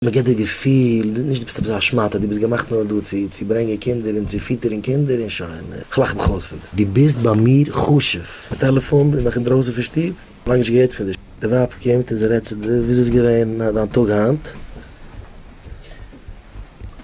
מען געט דיר געפיל, נישט דו ביסט עפעס א שמאטע, דו ביסט געמאכט נאר דא צו צו ברענגען קינדער און צו פיטערן קינדער און שוין, איך לאך מיך אויס פון דיר. דו ביסט ביי מיר חשוב. די טעלעפאן איז נאך אינדרויסן פון שטוב? לאנג נישט געהערט פון דיר. די ווייב קומט און זי רעדט צו דיר, וויאזוי איז געווען דיין טאג היינט?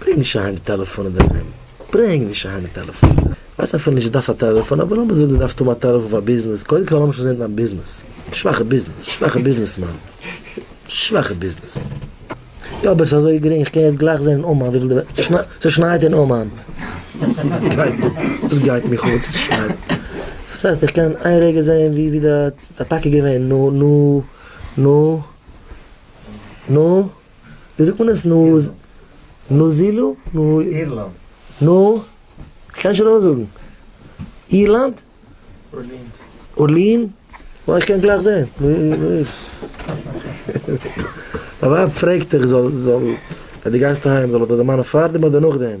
ברענג נישט אהיים די טעלעפאן אינדערהיים, ברענג נישט אהיים די טעלעפאן, כ'ווייס אפילו נישט דו דארפסט א טעלעפאן, אבער לאמיר זאגן דו דארפסט האבן א טעלעפאן פאר ביזנעס, קודם כל לאמיך שוין זען דיין ביזנעס, שוואכע ביזנעס, שוואכע ביזנעסמאן, שוואכע ביזנעס, יא אבער עס איז אזוי גרינג איך קען יעצט גלייך זען אין אומאן וויפיל די וועלט, ס'שנייט אין אומאן, וואס גייט מיך אן צו ס'שנייט, דאס הייסט איך קען איין רגע זען ווי ווי די אטאקע איז געווען, נו נו נו נו. ווי זאגט מען עס? נאז. נאזילו? אירלאנד. נו? כ'קען נישט אויסזאגן. אירלאנד? ארלינד. ארלין? ווייל איך קען גלייך זען. דיין ווייב פרעגט דיך זאל זאל ווען די גייסט אהיים זאל דער מאן פארדעם אדער נאכדעם?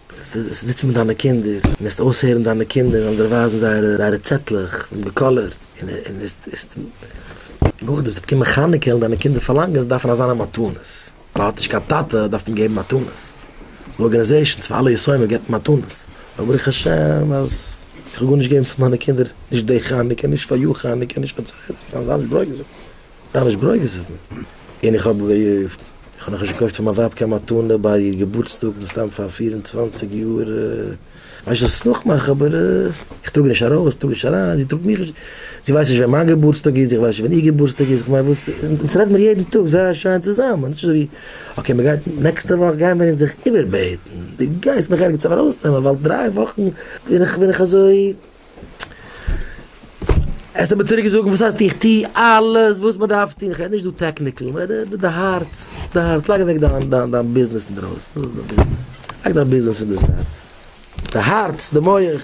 וועסטו זיצן מיט דיינע קינדער און וועסט אויסהערן דיינע קינדער זאלן דיר ווייזן זייערע צעטלעך און באקאלערט און וועסט נאכדעם ס'וועט קומען חנוכה וועלן דיינע קינדער פארלאנגען זיי דארפן אזאנע מתנות ווייל האט נישט קיין טאטע דארפסטו אים געבן מתנות ס'דא ארגענעזעישאנס פאר אלע יתומים גיבט מען מתנות אבער ברוך השם אז איך האב גארנישט געגעבן פאר מיינע קינדער נישט די חנוכה נישט פאריאר חנוכה נישט פארצייטיג קיין זיי האבן נישט ברויגעזשעט. זיי נישט ברויגעזיוון. און איך האב איך האב נאך נישט געקויפט פאר מיין ווייב קיין מתנה ביי איר געבורטסטאג מסתם פאר פֿיר און צוואַנציק יאר ווייסט נישט וואס צו נאכמאכן אבער איך טראג נישט ארויס איך טראג נישט אריין זי טראגט מיך נישט זי ווייסט נישט ווען מיין געבורטסטאג איז איך ווייס נישט ווען איר געבורטסטאג איז כ'מיין וואס אונז רעדט מיר יעדן טאג זייער שיין צוזאמען נישט אזויווי אקעי מען גייט נעקסטע וואך גייען מיר אונז זיך איבערבעטן דו גייסט מיך ערגעץ ארויסנעמען ווייל דריי וואכן בין איך בין איך אזוי. האסט אים צוריק געזאגט וואס הייסט איך טוה אלעס וואס מען דארף טוהן, איך רעד נישט דא טעקניקל, איך רעד דא די הארץ, די הארץ, לייג אוועק דיין דיין דיין ביזנעס אינדרויסן, דאס איז דיין ביזנעס, לייג דיין ביזנעס אין די זייט, די הארץ, די מח.